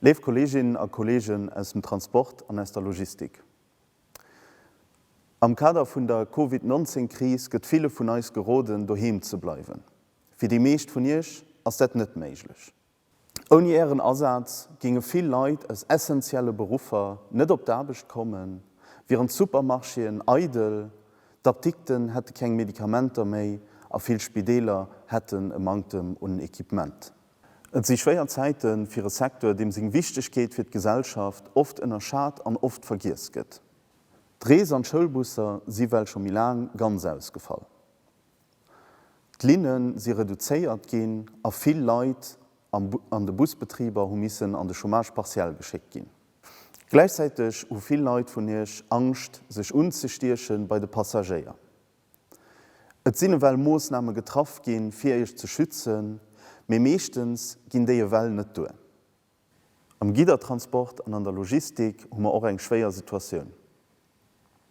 Léif Kolleeginnen a Kolleegen aus dem Transport an aus der Logistik, Am Kader vun der Covid 19 Kris gëtt ville vun eis geroden, doheem ze bleiwen. Fir déi meescht vun Iech ass dat net méiglech. Ouni Ären Asaz géinge vill Leit aus essentielle Beruffer net op d'Aarbecht kommen, wieren d'Supermarchéen eidel, d'Apdikten hätte keng Medikamenter méi a vill Spideeler hätten e Manktem un Equipement. Et si schwéier Zäite fir e Secteur, deem seng Wichtegkeet fir d'Gesellschaft oft ënnerschat an oft vergiess gëtt. D'Rees an d'Schoulbusser si well scho méi laang ganz ausgefall. D'Linne si reduzéiert ginn a vill Leit an de Busbetriber hu missen an de Chômage partiel geschéckt ginn. Gläichzäiteg hu vill Leit vun Iech Angscht, sech unzestieche bei de Passagéier. Et sinn ewell Moossname getraff ginn, fir Iech ze schützen, mee meeschtens ginn déi ewell net duer. Am Giddertransport an an der Logistik hu mer och eng schwéier Situatioun.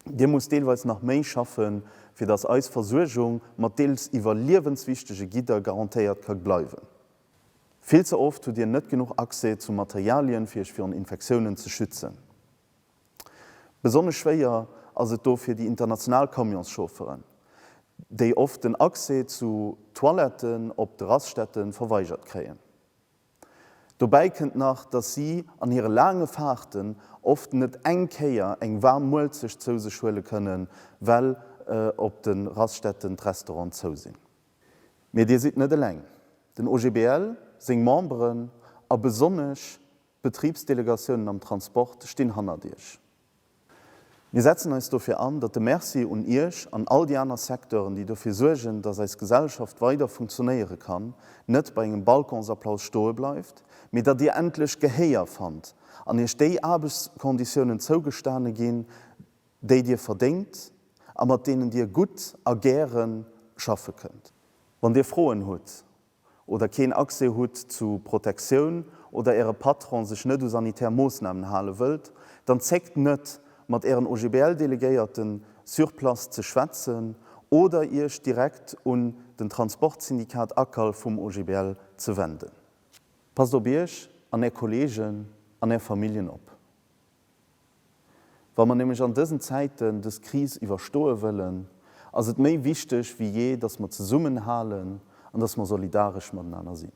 Dir musst deelweis nach méi schaffen, fir datt eis Versuergung mat deels iwwerliewenswichtege Gidder garantéiert ka bleiwen. Vill ze oft hutt Dir net genuch Accès zu Materialien, fir Iech virun Infektiounen ze schützen. Besonnesch schwéier ass et do fir déi international Camionschaufferen, déi oft den Accès zu Toiletten op de Raststätte verweigert kréien. Dobäi kënnt nach, dass si an hire laange Faarten oft net eng Kéier eng waarm Muelzecht zou sech huele kënnen, well op de Raststätten d'Restaurante zou sinn. Mee Dir sidd net eleng. Den OGBL, seng Memberen a besonnesch d'Betribsdelegatiounen am Transport stinn hannert Iech. Mir setzen eis dofir an, datt de Merci un Iech an all déi aner Secteuren, déi dofir suergen, datt eis Gesellschaft weider funktionéiere kann, net bei engem Balconsapplaus stoe bleift, mee datt Dir endlech Gehéier fannt an Iech déi Aarbechtskonditiounen zougestane ginn, déi Dir verdéngt a mat deenen Dir gutt a gäre schaffe kënnt. Wann Dir Froen hutt, oder keen Accès hutt zu Protektioun oder Äre Patron sech net u sanitär Moossnamen hale wëllt, dann zéckt net, mat Ären OGBL-Delegéierten sur place ze schwätzen oder Iech direkt un den Transportsyndikat ACAL vum OGBL ze wenden. Passt op Iech an Är Kolleegen an Är Familljen op. Wa mer nämlech an dësen Zäiten dës Kris iwwerstoe wëllen, ass et méi wichteg wéi jee, dass mer zesummen halen an dass mer solidaresch matenaner sinn.